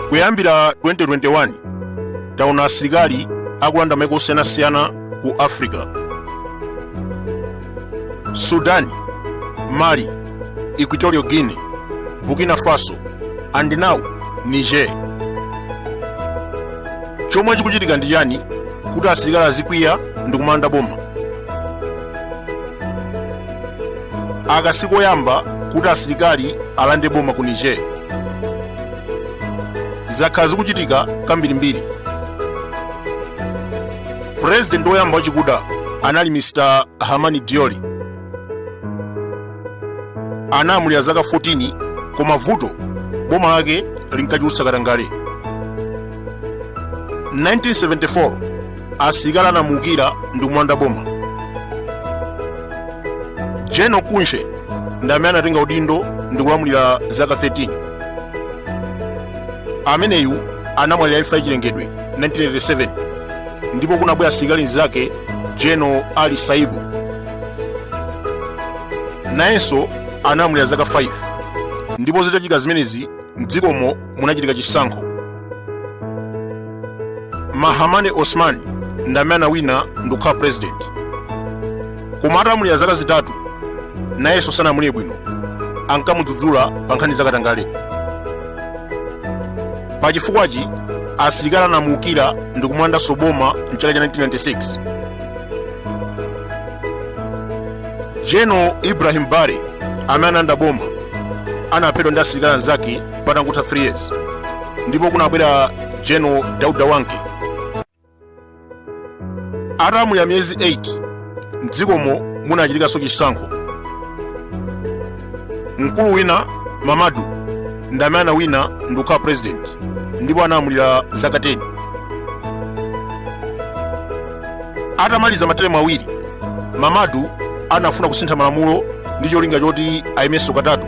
kuyambira 2021 taona asilikali akulanda maiko osiyanasiyana ku africa sudan mali Equatorial Guinea, Burkina Faso, and now Niger. Chomwe chikuchitika ndi chani kuti asilikali azikwiya ndi kumalanda boma? Aka sikoyamba kuti asilikali alande boma ku Niger. Zakhala zikuchitika kambirimbiri. President woyamba wachikuda anali Mr. Hamani Diori. analamulira zaka 14 koma vuto boma lake linkachulutsa katangale 1974 asilikali anamuukira ndi kumulanda boma general kunche ndi amene anatenga udindo ndi kulamulira zaka 13 ameneyu anamwalira imfa yachilengedwe 1987 ndipo kunabwera msilikali mnzake general ali saibu nayenso analamulira zaka 5 ndipo zitachitika zimenezi mdzikomo munachitika chisankho mahamane osman ndi amene anawina ndikukhala president koma atalamulira zaka zitatu nayenso sanalamulire bwino ankamudzudzula pa nkhani zakatangale pa chifukwachi asilikali anamuukira ndikumulandanso boma mchaka cha 1996 general ibrahim bare amene analanda boma anaphedwa ndi asilikali anzake patangotha 3 years ndipo kunabwera general dauda wanke atalamulira miyezi 8 mdzikomo munachitikanso chisankho mkulu wina mamadu ndi amene anawina ndi kukhala president ndipo analamulira zaka 10 Atamaliza materemu awiri, Mamadu anafuna kusintha malamulo ndi cholinga choti ayimenso katatu.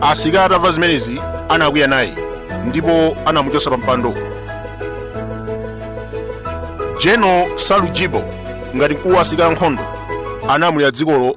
Asilikali atamva zimenezi anakwiya naye ndipo anamuchotsa pampando. General Salu Jibo ngati mkulu wa asilikali ankhondo analamulira dzikolo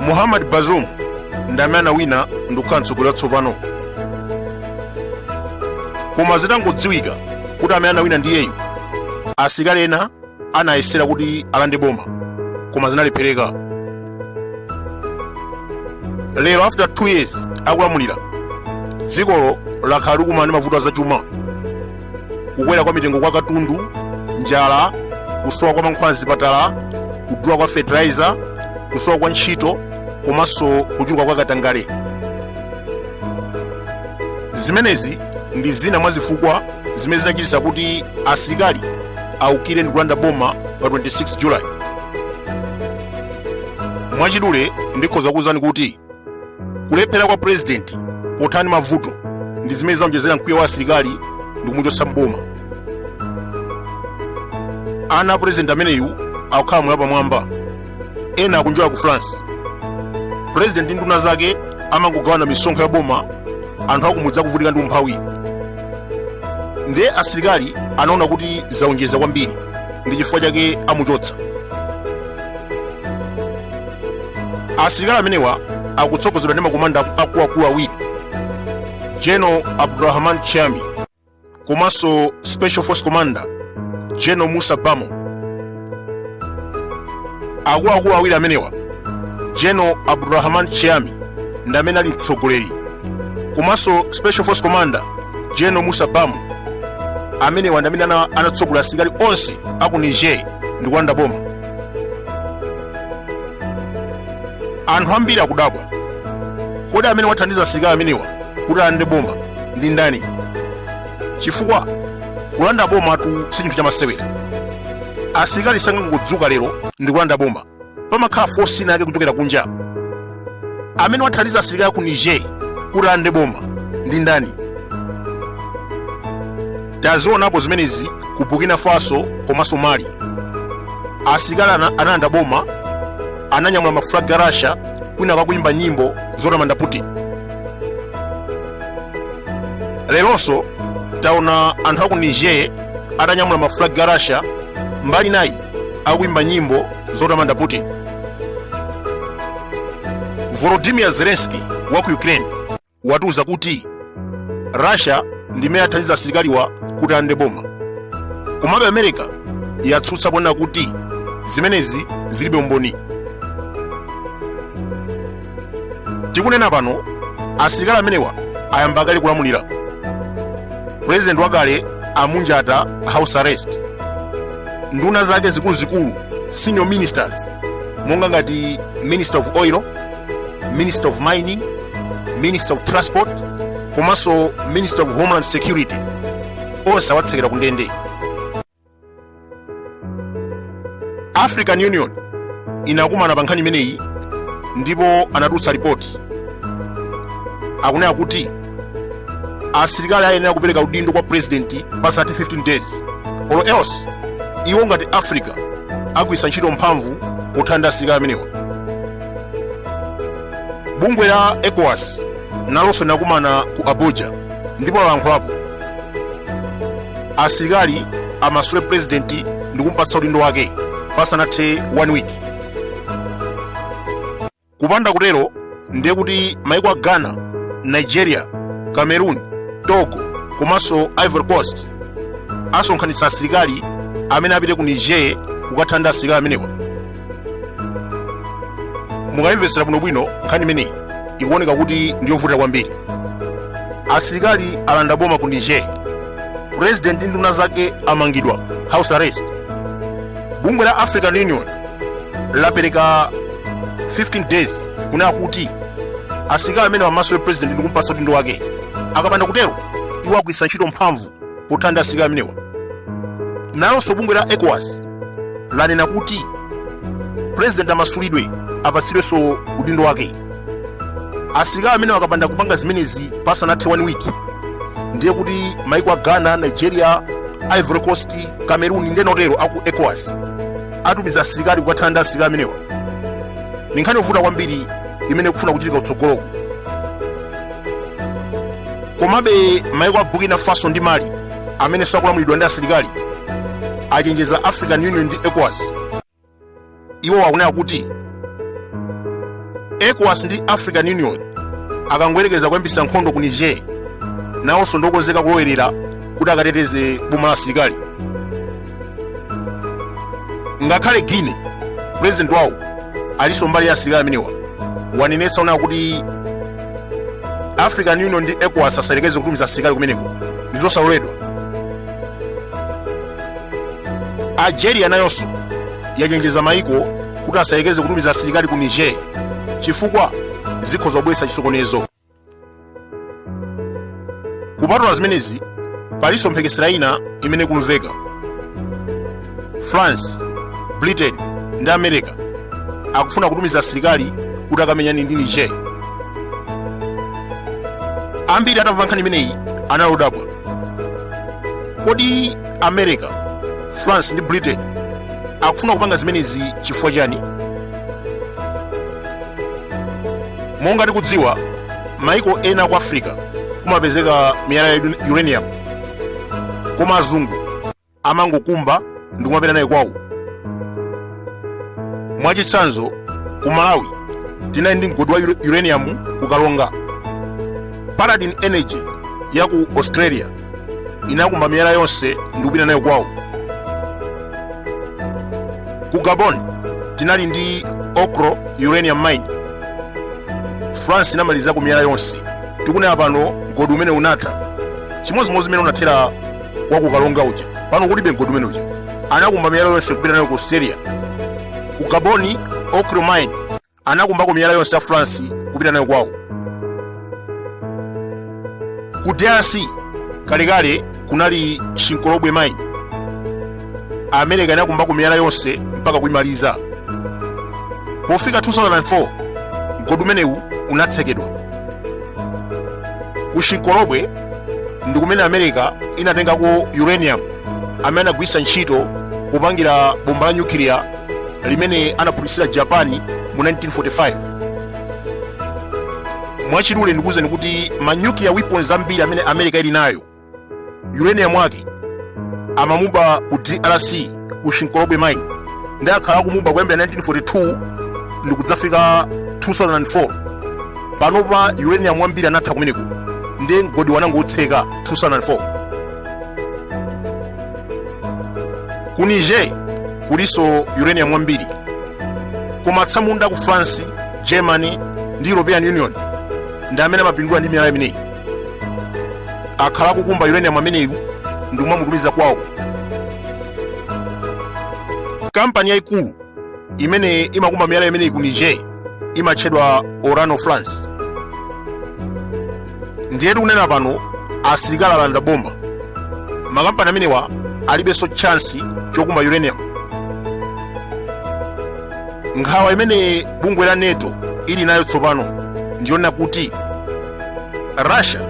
muhammad bazoum ndi amene anawina ndikukhala mtsogoleri watsopano koma zitangodziwika kuti amene anawina ndiyeyu asilikali ena anayesera kuti alande boma koma zinalephereka lero after 2 years akulamulira dzikolo lakhala likumana ndi mavuto azachuma kukwera kwa mitengo kwa katundu njala kusowa kwa mankhwala mzipatala kudula kwa fertilizer kusowa kwa ntchito komanso kuchuluka kwa katangale zimenezi ndi zina mwa zifukwa zimene zinachititsa kuti asilikali aukire ndi kulanda boma pa 26 julayi mwachidule ndikhoza kukuwuzani kuti kulephera kwa purezidenti pothana mavuto ndi zimene zaonjezera mkwiyo wa asilikali ndi kumuchotsa mboma ana a purezidenti ameneyu akukhala moyo wapamwamba ena akunjoya ku france purezidenti ndi nduna zake amangogawana misonkho ya boma anthu akumudzi akuvutika ndi umphawi ndiye asilikali anaona kuti zaonjeza kwambiri ndi chifukwa chake amuchotsa asilikali amenewa akutsogozedwa ndi makomanda akuluakulu awiri general abdurahman tchiani komanso special force commander general musa barmou akuluakulu awiri amenewa general abdurahman tchiani ndi amene ali mtsogoleri komanso special force commander general musa barmou amenewa ndi amene anatsogolera asilikali onse aku niger ndi kulanda boma anthu ambiri akudabwa kodi amene wathandiza asilikali amenewa kuti alande boma ndi ndani chifukwa kulanda bomatu si chinthu chamasewera asilikali sangangodzuka lero ndi kulanda boma pamakhala force inayake kuchokera kunja amene wathandiza asilikali ku niger kuti alande boma ndi ndani tazionapo zimenezi ku burkina faso komanso mali asilikali analanda boma ananyamula mafulagi a russia kwinaku akuyimba nyimbo zotamanda putin leronso taona anthu aku niger atanyamula mafulagi a russia mbali inayi akuimba nyimbo zotamanda putin volodymyr zelensky wa ku ukraine watiuza kuti russia ndi imene yathandiza asilikaliwa kuti alande boma komabe america yatsutsa ponena kuti zimenezi zilibe umboni tikunena pano asilikali amenewa ayamba kale kulamulira pulezidenti wakale amunjata house arrest nduna zake zikuluzikulu senior ministers monga ngati minister of oil minister of mining minister of transport komanso minister of homeland security onse awatsekera ku ndende african union inakumana pa nkhani imeneyi ndipo anatulutsa ripoti akunena kuti asilikali ayenera kupereka udindo kwa purezidenti pasanathe 15 days or else iwo ngati africa agwiritsa ntchito mphamvu pothana ndi asilikali amenewa bungwe la ecowas nalonso linakumana ku abuja ndipo lalankhulapo asilikali amasule purezidenti ndi kumpatsa udindo wake pasanathe 1 week kupanda kutero ndiye kuti maiko a ghana nigeria cameroon togo komanso ivory coast asonkhanitsa asilikali amene apite ku niger kukathana ndi asilikali amenewa mukayimvetsera bwinobwino nkhani imeneyi ikuoneka kuti ndi yovuta kwambiri asilikali alanda boma ku niger purezidenti ndi nduna zake amangidwa house arrest bungwe la african union lapereka 15 days kunena kuti asilikali amenewa amasule purezidenti ndi kumpasa udindo wake akapanda kutero iwo agwiritsa ntchito mphamvu pothana ndi asilikali amenewa nalonso bungwe la ecowas lanena kuti purezidenti amasulidwe apatsidwenso udindo wake asilikali amenewa akapanda kupanga zimenezi pasanathe 1 week ndiye kuti maiko a ghana nigeria ivory coast cameroon ndi ena otero aku ecowas atumiza asilikali kukathana ndi asilikali amenewa ndi nkhani yovuta kwambiri imene ikufuna kuchitika kutsogoloku komabe maiko a burkina faso ndi mali amenenso akulamulidwa ndi asilikali achenjeza african union ndi ecowas iwo akunena kuti ecowas ndi african union akangoyerekeza kuyambisa nkhondo ku niger nawonso ndiokonzeka kulowerera kuti akateteze boma la asilikali ngakhale guinea pulezidenti wawo alinso mbali ya asilikali amenewa wanenetsa kunena kuti african union ndi ecowas asayelekeze kutumiza asilikali kumeneko ndi zosaloledwa algeria nayonso yachenjeza maiko kuti asayelekeze kutumiza asilikali ku niger chifukwa zikhoza kubweretsa chisokonezo kupatula zimenezi palinso mphekesera ina imene ikumveka france britain ndi america akufuna kutumiza asilikali kuti akamenyane ndi niger ambiri atamva nkhani imeneyi anali odabwa kodi america france ndi britain akufuna kupanga zimenezi chifukwa chani monga tikudziwa maiko ena a ku africa kumapezeka miyala ya uranium koma azungu amangokumba ndi kumapita nayo kwawo mwachitsanzo ku malawi tinali ndi mgodi wa uranium ku karonga paladin energy ya ku australia inakumba miyala yonse ndi kupita nayo kwawo ku gabon tinali ndi oklo uranium mine france inamalizako miyala yonse tikunena pano mgodi umenewu unatha chimodzimodzi mmene unathera wa ku karonga uja pano kulibe mgodi umene uja anakumba miyala yonse kupita nayo ku australia ku gabon oklo mine anakumbako miyala yonse a France kupita nayo kwawo. Ku DRC kalekale kunali Shinkolobwe mine. America inakumbako miyala yonse mpaka kuimaliza. Pofika 2004 mgodi umenewu unatsekedwa. Ku Shinkolobwe ndi kumene America inatengako uranium amene anagwiritsa ntchito popangira bomba la nyukiliya limene anaphulitsira japan mu 1945 mwachidule ndikuwuzeni kuti ma nuclear weapons ambiri amene america ili nayo uranium wake amamuba ku drc ku shinkolobwe mine ndipo akhala akumuba kuyambira 1942 ndikudzafika 2004 panopa uranium wambiri anatha kumeneko ndipo mgodiwo anangoutseka 2004 ku niger kulinso uranium wambiri koma atsamunda a ku france germany ndi european union ndi amene amapindula ndi miyala imeneyi akhala akukumba uranium ameneyu ndi kumamutumiza kwawo kampani yayikulu imene imakumba miyala imeneyi ku niger imatchedwa orano france ndiye tikunena pano asilikali alanda boma makampani amenewa alibenso chansi chokumba uranium nkhawa imene bungwe la nato ili nayo tsopano ndiyonena kuti russia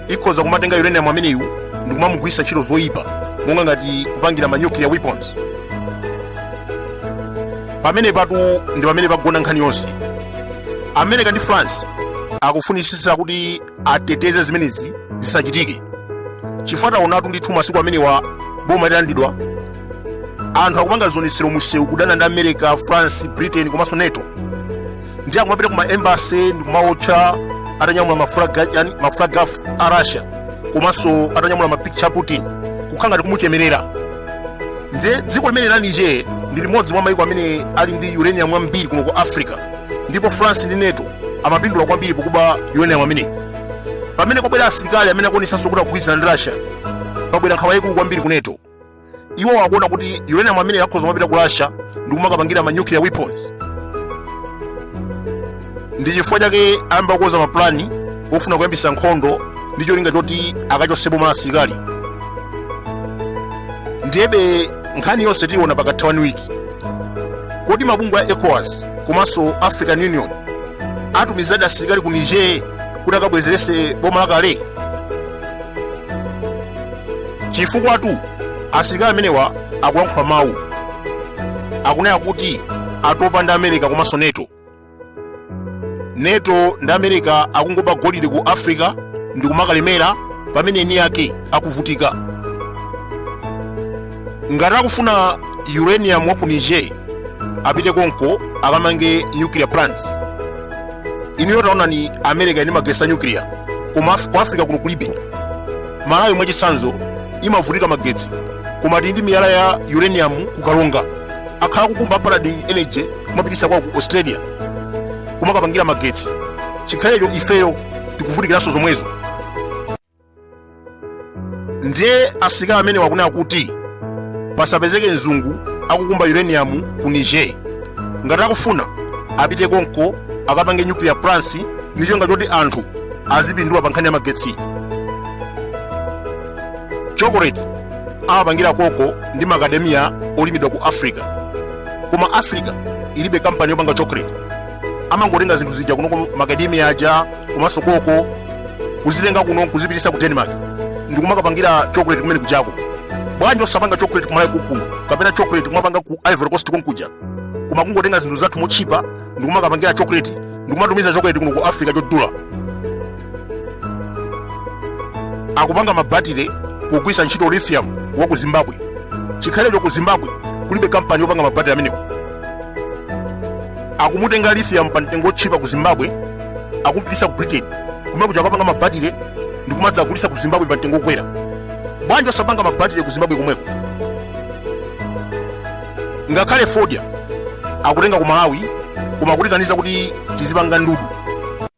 ikhoza kumatenga uranium ameneyu ndi kumamugwiritsa ntchito zoyipa monga ngati kupangira ma nuclear weapons pamene patu ndi pamene pagona nkhani yonse america ndi france akufunitsitsa kuti ateteze zimenezi zisachitike chifukwa taonatu ndithu masiku amenewa boma litalandidwa anthu akupanga zionetsero musewu kudana ndi america france britain komanso nato ndiye akumapita ku maembasi ndikumawotcha atanyamula maflaga a russia komanso atanyamula mapikitcha a putin kukhala ngati kumuchemerera ndiye dziko limene la niger ndi limodzi mwa maiko amene ali ndi uranium wambiri kuno ku africa ndipo france ndi nato amapindula kwambiri pokuba uranium ameneyi pamene kwabwera asilikali amene akuonesanso kuti akugwirizana ndi russia pabwera nkhawa yaikulu kwambiri ku nato iwo akuona kuti uranium ameneyi akhoza kumapita ku russia ndi kumakapangira ma nuclear weapons ndi chifukwa chake ayamba kukonza mapulani ofuna kuyambisa nkhondo ndi cholinga choti akachotse boma la asilikali ndiyebe nkhani yonse tiyiona pakatha one week kodi mabungwe a ecowas komanso african union atumizadi asilikali ku niger kuti akabwezerese boma lakale chifukwatu asilikali amenewa akulankhula mawu akunena kuti atopa ndi america komanso nato nato ndi america akungoba golide ku africa ndi kumakalemera pamene eni yake akuvutika ngati akufuna uranium wa ku niger apite konko akamange nuclear plants inuyo taonani america ili ndi magetsi a nuclear koma ku africa kuno kulibe malawi mwachitsanzo imavutika magetsi koma tili ndi miyala ya uranium ku karonga akhala kukumba paladin energy kumapitisa kwawo ku australia kumakapangira magetsi chikhalecho ifeyo tikuvutikiranso zomwezo ndiye asilikali amenewa akunena kuti pasapezeke mzungu akukumba uranium ku niger ngati akufuna apite konko akapange nuclear plants ndi cholinga choti anthu azipindula pa nkhani ya magetsi chocolate amapangira koko ndi macadamia olimidwa ku africa koma africa ilibe kampani yopanga chocolate amangotenga zinthu zija kuno macadamia aja komanso koko kuzitenga kuno kuzipitisa ku denmark ndikumakapangira chocolate kumene kujako bwanji osapanga chocolate ku malawi konkuno kapena chocolate kumapanga ku ivory coast konkuja koma kungotenga zinthu zathu motchipa ndikumakapangira chocolate ndikumatumiza chocolate kuno ku africa chodula akupanga mabatire pogwiritsa ntchito lithium wa ku zimbabwe chikhalecho ku zimbabwe kulibe kampani yopanga mabatire amenewo akumutenga lithium pa mtengo otchipa ku zimbabwe akumupititsa ku britain kumene kuja akupanga mabatire ndi kumadzagulitsa ku zimbabwe pa mtengo okwera bwanji osapanga mabatire ku zimbabwe komweko ngakhale fodya akutenga ku malawi koma akutikaniza kuti tidzipanga ndudu